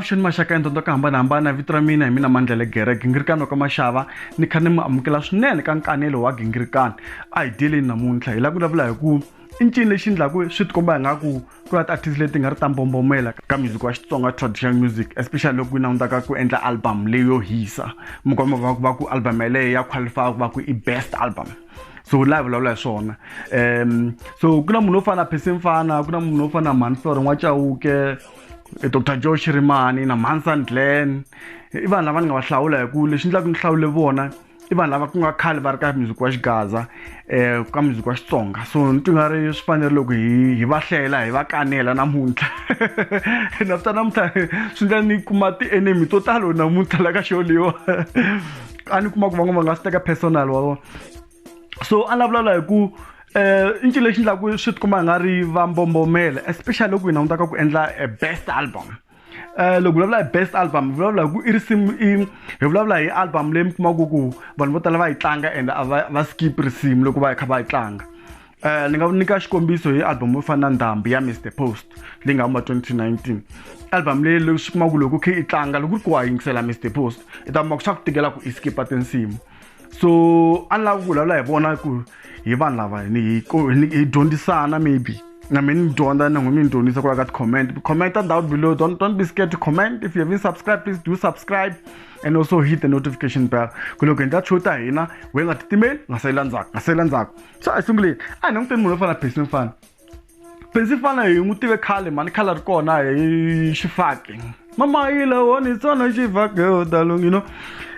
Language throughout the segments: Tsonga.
avuxeni maxaka ya ntondo ka hambanahambana vito ra mina hi mina mandlele gere gingirikani wa ka maxava ni kha ni mi amukela swinene ka nkanelo wa gingirikani a hi dyeleni namuntlha hi la ku vulavula hi ku i ncini lexi endlaku swi tikomba hi nga ku ku na ti-artist leti nga ri ta mbombomela ka music wa xitsonga traditional music especially loko yi langutaka ku endla album leyo hisa mi kuma va va ku album yeleyo ya qualify ku va ku i best album so la hi vulavula hi swona um so ku na munhu wo fana na phesi mfana ku na munhu wo fana na mansor n'wachawuke eh, dr joe shirimani na mansan glen i vanhu lava ni nga va hlawula hi ku lexi endlaku ni hlawule vona i vanhu lava ku nga khale va ri ka muziki wa xigaza um ka muziki wa xitsonga so ni twi nga ri swi fanele loko hi hi va hlela hi va kanela namuntlha na swi ta namuntlha swi ndla ni kuma ti-enemy to talo namuntlha la ka xo leyiwa a ni kuma ku van'wana va nga swi teka personal wa vona so a ni lavulavula hi ku um i ncini lexi ndlaku swi ti kuma hi nga ri va mbombomela especially loko hi langutaka ku endla a best album um loko vulavula hi best album hi vulavula hi ku i risimu i hi vulavula hi album leyi mi kumaka ku vanhu vo tala va yi tlanga and a va va skip risimu loko va kha va yi tlanga um ni nga nyika xikombiso hi album yo fana na ndhambi ya mr post leyi nga huma 2019 album leyi loko swi kuma ku loko khe i tlanga loko ku ri ku wa yingisela mr post i ta kuma ku swa ku tikela ku i skipa tinsimu so a ni lava ku vulavula hi vona ku hi vanhu lava ni hi hi dyondzisana maybe na mina ni dyondza na n'wina mi ni dyondzisa ku la ka ti-comment comment down below don't, don't be scared to comment if you haven't subscribed please do subscribe and also hit the notification bell ku loko hi ndla show ta hina we nga titimeli nga sayela ndzhaku nga sayela ndzhaku so a hi sunguleni a hi languteni munhu wo fana person fana Principal hi n'wi tive khale mhani khale ri kona hi xifaki mama yi lawoni tsona xifaki yo talo you know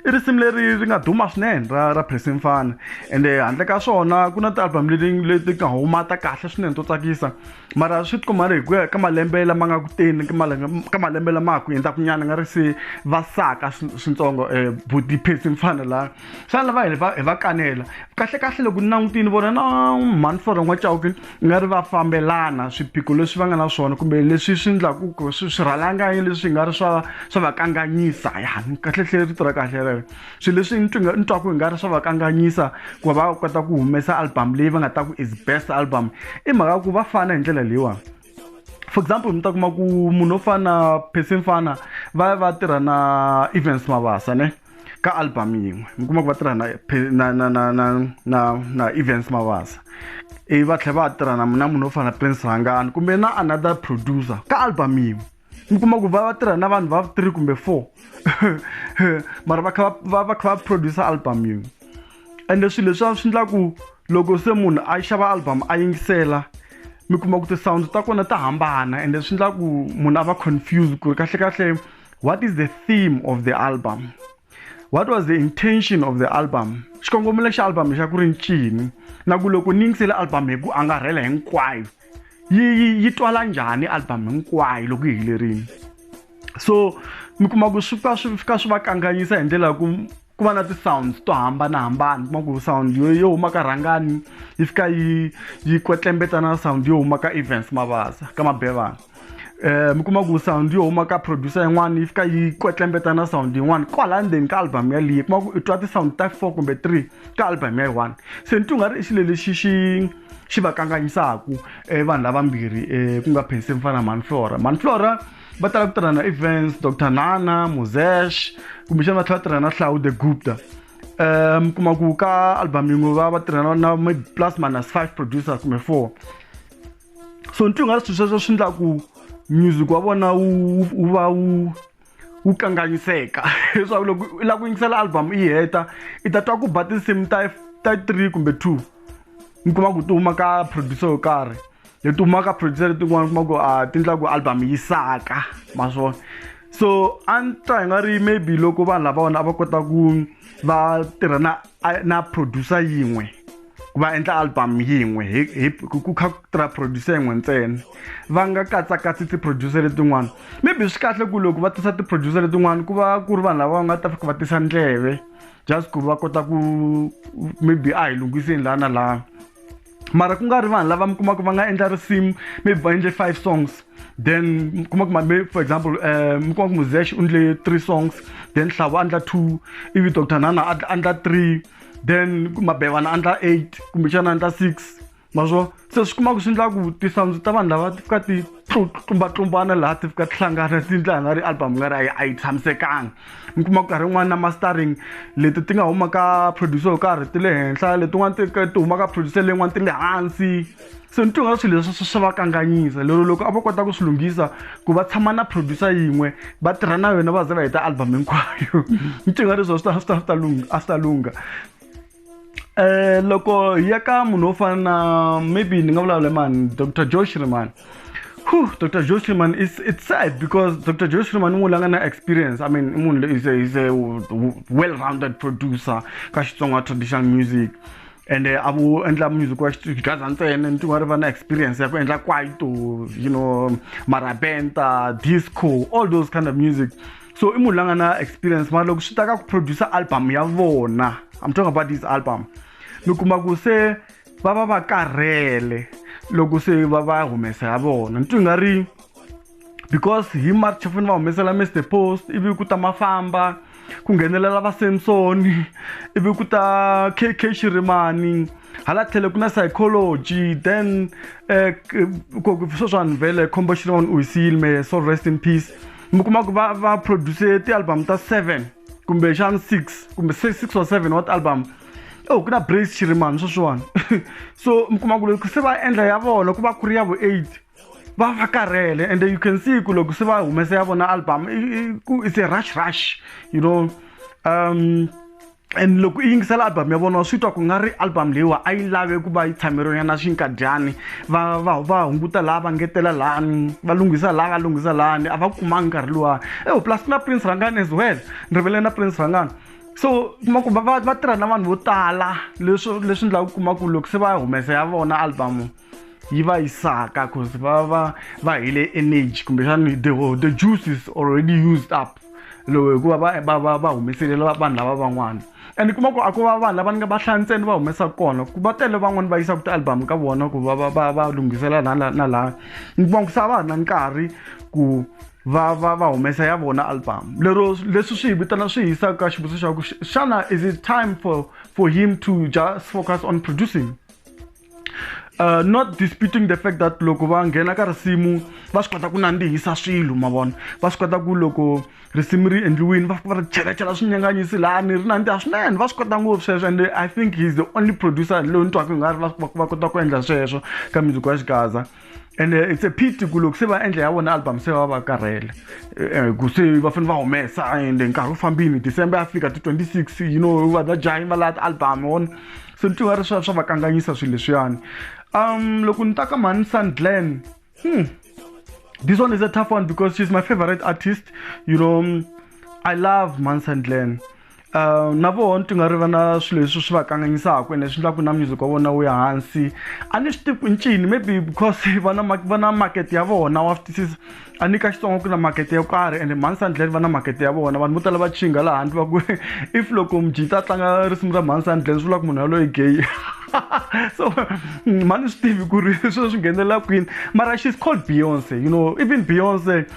i risimu leri ri nga duma swinene ra ra Pressing Fana ende handle ka swona ku na ti-album leti leti nga huma ta kahle swinene to tsakisa mara swi tikuma ri hi ku ya ka malembe lama nga ku teni ka malembe ka malembe lama ha ku hundzaka nyana nga ri se va saka swintsongo buti Pressing Fana la xana lava hi va hi va kanela kahlekahle loko ni langutini vona na mhani for n'wa chauke nga ri va fambelana swiphiqo leswi va nga na swona kumbe leswi swi endlaku ku swi swi rhalanganyi leswi nga ri swa swa va kanganyisa ya kahlekahle rito ra kahle rero swilo leswi ni twinga ni twaku hi nga ri swa va kanganyisa ku va va kota ku humesa album leyi va nga ta ku is best album i mhaka ku va fana hi ndlela leyiwani for example mi ta kuma ku munhu wo fana na persin fana va va tirha na events mabasa ne ka album yin'we mi kuma ku va tirha na na na na na na na events mavasa ivi va tlhela va tirha na na munhu wo fana na prince rhangani kumbe na another producer ka album yin'we mi kuma ku va va tirha na vanhu va three kumbe four mara va kha va va kha va producer album yin'we ende swilo leswiya swi endla ku loko se munhu a xava album a yingisela mi kuma ku ti-sound ta kona ta hambana ende swi endla ku munhu a va confuse ku ri kahlekahle what is the theme of the album what was the intention of the album xikongomelo xa album xa ku ri ncini na ku loko ni yingisele album hi ku angarhela hinkwayo yi yi yi twala njhani album hinkwayo loko yi helerile so mi kuma ku swi fika swi fika swi va kanganyisa hi ndlela ya ku ku va na ti-sounds to hambanahambana kuma ku sound yo yo huma ka rhangani yi fika yi yi kwetlembetsa na sound yo huma ka events mavasa ka mabevana um mi kuma ku sound yo huma ka producer yin'wana yi fika yi kwetlembeta na sound yin'wana kwala ndzeni ka album yaliyi kuma ku i twa ti-sound ta four kumbe three ka album ya yi one se ni ti u nga ri i xilo lexi xi xi va kanganyisaka um vanhu lavambirhi um ku nga phenseni fana na manflora manflora va tala ku tirhana events dr nana mosesh kumbexana va tlhela va tirhana hlawu the gupta um kuma ku ka album yin'we va va tirhana na maybe plus minus five producers kumbe four so nti u nga ri swilo sweswo swi endla ku music wa vona wu wu va wu wu kanganyiseka leswaku loko i lava ku yingisela album i heta i ta twa ku ba tinsimu ta ta three kumbe two mi kuma ku ti huma ka producer yo karhi hi tuma ka producer letin'wana kuma ku a ti endla ku album yi saka ma swona so a ni twa hi nga ri maybe loko vanhu lava vona a va kota ku va tirha na na producer yin'we ku va endla album yin'we hi ku kha ku tirha producer yin'we ntsena va nga katsakatsi ti-producer letin'wana maybe swi kahle ku loko va tisa ti-producer letin'wana ku va ku ri vanhu lava va nga ta fika va tisa ndleve just ku va kota ku maybe a hi lunghiseni laha na laha mara ku nga ri vanhu lava mi kumaka va nga endla risimu maybe va endle five songs then mi kuma ku maybe for example um mi kuma ku muzesh u ndle three songs then hlavu a ndla two ivi doctor nana a ndla three then mabevana a ndla eight kumbexana a ndla six ma swo se swi kuma ku swi ndla ku tisounds ta vanhu lava ti fika ti tlumbatlumbana laha ti fika tihlangana ti ndla nga ri album nga ri a yi tshamisekanga mi kuma ku karhi yin'wana na mastering leti ti nga huma ka producer yo karhi ti le henhla letin'wana ti ti huma ka producer leyin'wana ti le hansi se ni twinga swilo leswi swi va kanganyisa lero loko a va kota ku swi lunghisa ku va tshama na producer yin'we va tirha na yona va ze va heta album hinkwayo ni twinga leswi a swi ta swi ta swi ta lungha a swi ta lungha Eh, loko hi ya ka munhu wo fana na maybe ni nga vulavula mani dr joe shriman Whew, dr joe shriman it's, it's sad because dr joe shriman i munhu la nga na experience i mean i munhu loyi is a, is a well rounded producer ka xitsonga traditional music and eh, a vo endla music wa xigaza ntsena ni tin'wana ri va na experience ya ku endla kwaito you know marabenta disco all those kind of music so i munhu la nga na experience mara loko swi ta ka ku producer album ya vona i'm talking about this album mi kuma ku se va va va karhele loko se va va humesa ya vona ni twi nga ri because hi march va fanele va humesela mr post ivi ku ta mafamba ku nghenelela va samson ivi ku ta kk xirimani hala tlhele ku na psychology then eh, ku swo swanhu vele khombo xirimani u hi siyile me so rest in peace mi kuma ku va va produce ti-album ta seven kumbexana six kumbe six or seven wa ti-album oh ku na brace chirimani sweswiwani so mi kuma ku loko se va endla ya vona ku va ku ri ya vo eight va va karhele and you can see ku loko se va humesa ya vona album it's a rush rush you know um and loko i yingisela album ya vona wa swi twa ku nga ri album leyiwa a yi lave ku va yi tshameriwa ya na xinkadyani va va va hunguta laha va ngetela lani va lunghisa laha va lunghisa lani a va kumangi nkarhi luwa ewu eh, plus na prince rangani as well ni rivele na prince rangani so kuma ku va va tirha na vanhu vo tala leswi leswi ndlaku kuma ku loko se va humesa ya vona album yi va yi saka cause va va va hele energy kumbexani the, the juice is already used up lowu hikuva va va va va humeselela vanhu lava van'wana and kuma ku a ku va vanhu lava ni nga va hlaya ntsena va humesa kona ku va tele van'wani va yisaka ti-album ka vona ku va va va va lunghisela la na na laya ni kuma ku sa va ha na nkarhi ku va va va humesa ya vona album lero leswi swi hi vitana swi hisaka ka xivutiso xa ku xana is it time for for him to just focus on producing Uh, not disputing the fact that loko va nghena ka risimu va swi kota ku nandzihisa swilo ma vona va swi kota ku loko risimu ri endliwini va fika va ri chelachela swinyanganyisi lani ri nandziha swinene va swi kota ngopfu sweswo and i think he's the only producer loyi ni twaka i nga ri va kota ku endla sweswo ka music wa xigaza and uh, it's a pity ku loko se va endla ya vona album se va va karhele eh, ku se va fanele va humesa and nkarhi wu fambini december ya fika ti 26 you know va ta jahi va laya ti-album on so ni tiva ri swa swa va kanganyisa swilo leswiyani um loko ni ta ka mhani sun glen hmm. this one is a tough one because she's my favorite artist you know i love mansan glen Uh, na vona ti nga ri va na swilo leswi swi va kanganyisaka ene swi endlaku na music wa vona wu ya hansi a ni swi tivi ku ncini maybe because va na va na market ya vona wa swi twisisa a ni ka xitsongo ku na market yo karhi ende mhani sandlel va na market ya vona vanhu vo tala va chinga laha handle va ku if loko mujita a tlanga risimu ra mhani sandlel swi vula ku munhu yaloyi gay so mhani swi tivi ku ri swilo swi nghenelela kwini mara she's called beyonce you know even beyonce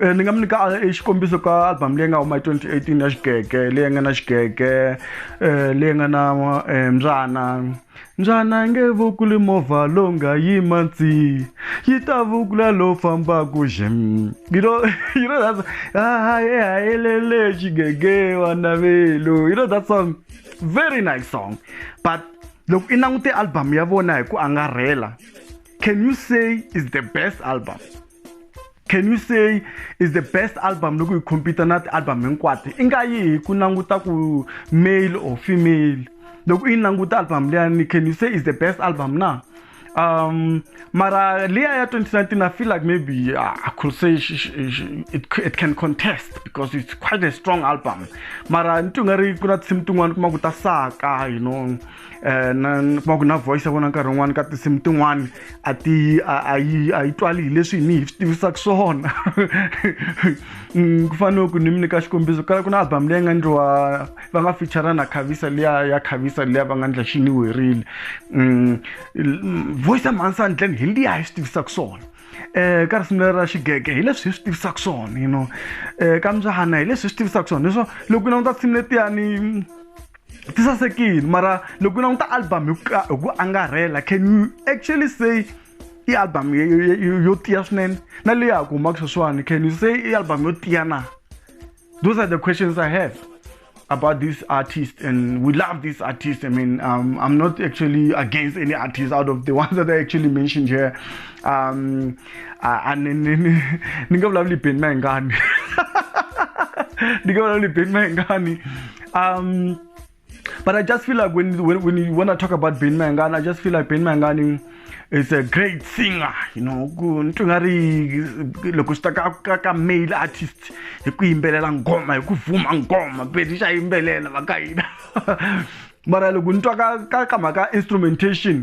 Eh, ni nga mi nyika eh, xikombiso ka album leyi nga huma hi 2018 ya xigege leyi nga na xigege eh, leyi nga na mbyana mbyana nge vukuli movha lowu nga yima ndzi yi ta vukula lowu fambaka xim you know you know that haye hayelele xigege wanavelu you know that song very nice song but loko i langute album ya vona hi ku angarhela can you say is the best album can you say is the best album loko hi compete na ti-album hinkwato i nga yi hi ku languta ku male or female loko i languta album leyani can you say is the best album na um mara leya ya 2019 i feel like maybe uh, i could say she, she, she, it, it can contest because it's quite a strong album mara ni ti nga ri ku na tinsimu tin'wana kuma ku ta saka you know eh, na kuma ku na voice ya vona nkarhi wun'wani ka tinsimu tin'wani a ti a yi a yi twali hi leswi ni hi swi tivisaka swona mm, ku fanele ku ni mi nyika xikombiso kala ku na album leyi nga ndliwa va nga feature na khavisa liya ya khavisa liya va nga ndla xi ni werile mm, voice ya mhansani dlan hi liya hi swi tivisaka swona eh ka risimu ra xigege hi leswi hi swi tivisaka swona you know eh ka mbyahana hi leswi hi swi tivisaka swona leswo loko ku languta risimu letiyani ti sasekile mara loko u languta album hi ku hi ku angarhela can you actually say i album yo- yo- yo- yo tiya swinene na leyi ha ku humaka sweswiwani can you say i album yo tiya na those are the questions i have about this artist and we love this artist i mean um, i'm not actually against any artist out of the ones that i actually mentioned here um, a a ni ni ni ni nga vulavuli beni na hingani ni nga vulavuli beni na hingani um but i just feel like when when, when you want to talk about beni na hingani i just feel like beni na hingani is a great singer you know ku ni twi nga ri loko swi ta ka ka ka male artist hi ku yimbelela ngoma hi ku vuma ngoma beni xa yimbelela va ka hina mara loko ni twa ka ka ka mhaka instrumentation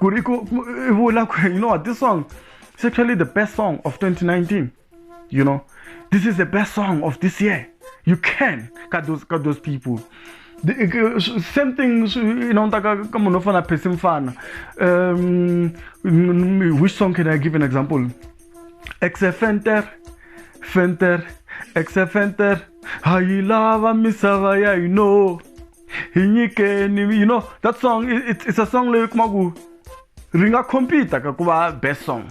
ku ri ku i vula ku you know what this song is actually the best song of 2019 you know this is the best song of this year you can ka those ka those people same thing you know ka ka munhu fana phesi mfana um which song can i give an example exe fenter fenter exe fenter hayilava misava ya you know hi nyikeni you know that song it's, it's a song leyi kuma ku ri nga compete ka ku va best song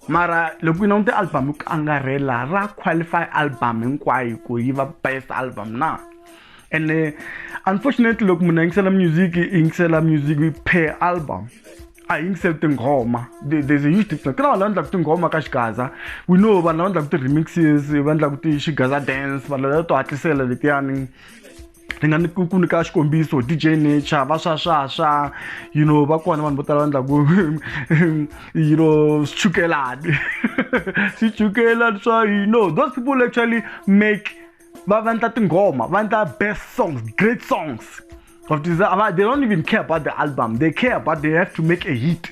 mara loko yi langute album yi ku angarhela ra qualify album hinkwayo ku yi va best album na ene eh, unfortunately loko munhu a yingisela music i yingisela music per album a hi yingiseli tinghoma there's a huge difference ku na vanhu lava endlaka tinghoma ka xigaza we know vanhu lava endlaka ti-remixes va endlaka ti-xigaza dance vanhu lava to hatlisela letiyani ni nga ni ku ku nyika xikombiso dj nature va swa swa swa you know va kona vanhu vo tala va endlaku you know swichukelani swichukelani swa you know those people actually make va va endla tinghoma va endla best songs great songs of they don't even care about the album they care about they have to make a hit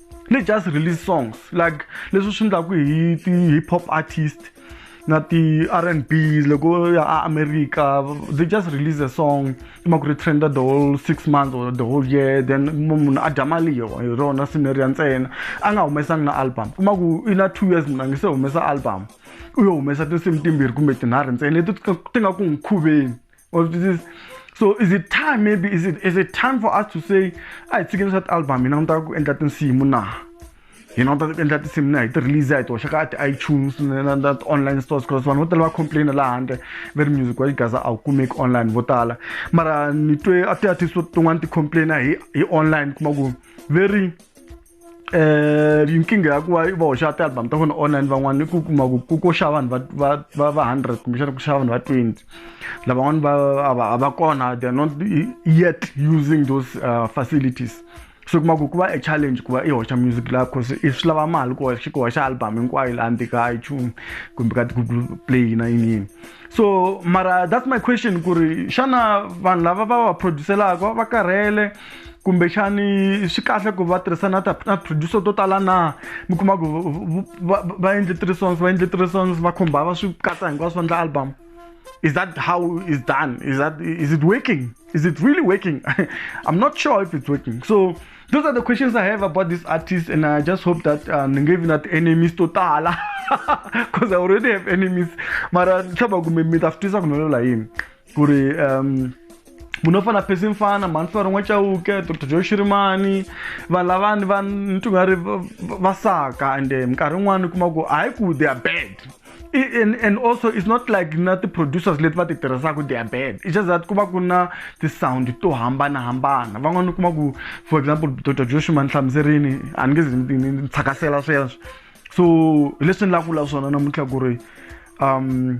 ni just release songs like leswi swi endlaku hi ti-hip hop artist na ti-r and b loko ya a america they just release a song kuma ku ri trenda the whole six months or the whole year then munhu a dya mali yo hi rona sineriya ntsena a nga humesangi na album kuma ku i na two years munhu a nge se humesa album u yo humesa tinsimu timbirhi kumbe tinharhu ntsena leti ti nga ku n'wi khuveni Or this is so is it time maybe is it is it time for us to say a hi tshikeni swa ti-album hina ni ta ku endla tinsimu na hina ni ta endla tinsimu na hi ti-release ya hi toxa ka ti-itunes na na ti-online stores because vanhu vo tala va complaina laha handle va ri music wa xigaza a wu kumeki online vo tala mara ni twe a ti-artist tin'wana ti-complaina hi hi online kuma ku very eh nkingha ya ku va va hoxa ti-album ta vona online van'wana i ku kuma ku ku ko xava vanhu va va va hundred kumbexana ku xava vanhu va twenty lavan'wana va a va a va kona they are not yet using those uh, facilities so kuma ku ku va a challenge ku va i hoxa music laha cause i swi lava mali ku hoxa ku hoxa album hinkwayo laha ndzika a ichumi kumbe ka ti-google play na yini yini so mara that's my question ku ri xana vanhu lava va va producelaka va karhele kumbexani swi kahle ku va tirhisana ta na producer to tala na mi kuma ku va endle three songs va endle three songs va khumba va swi katsa hinkwaswo va endla album is that how is done is that is it working is it really working i'm not sure if it's working so those are the questions i have about this artist and i just hope that uh, ni nge vi na ti-enemies to tala because i already have enemies mara ni tlhava kumbe mi ta swi twisa ku ni vulavula yini ku ri um munhu wo fana phesi mfana mhani fana rin'we chauke doctor joe xirimani vanhu lavani va ni twi nga ri va saka and eh, minkarhi yin'wana u kuma ku hayi ku they are bad and, and also it's not like na ti-producers leti va ti tirhisaka they are bad it's just that ku va ku na ti-sound to hambanahambana van'wana u kuma ku for example dr joshua nhlamuserini a ni nge zi ni tshakasela sweswo so hi leswi ni lava ku vula swona namuntlha ku ri um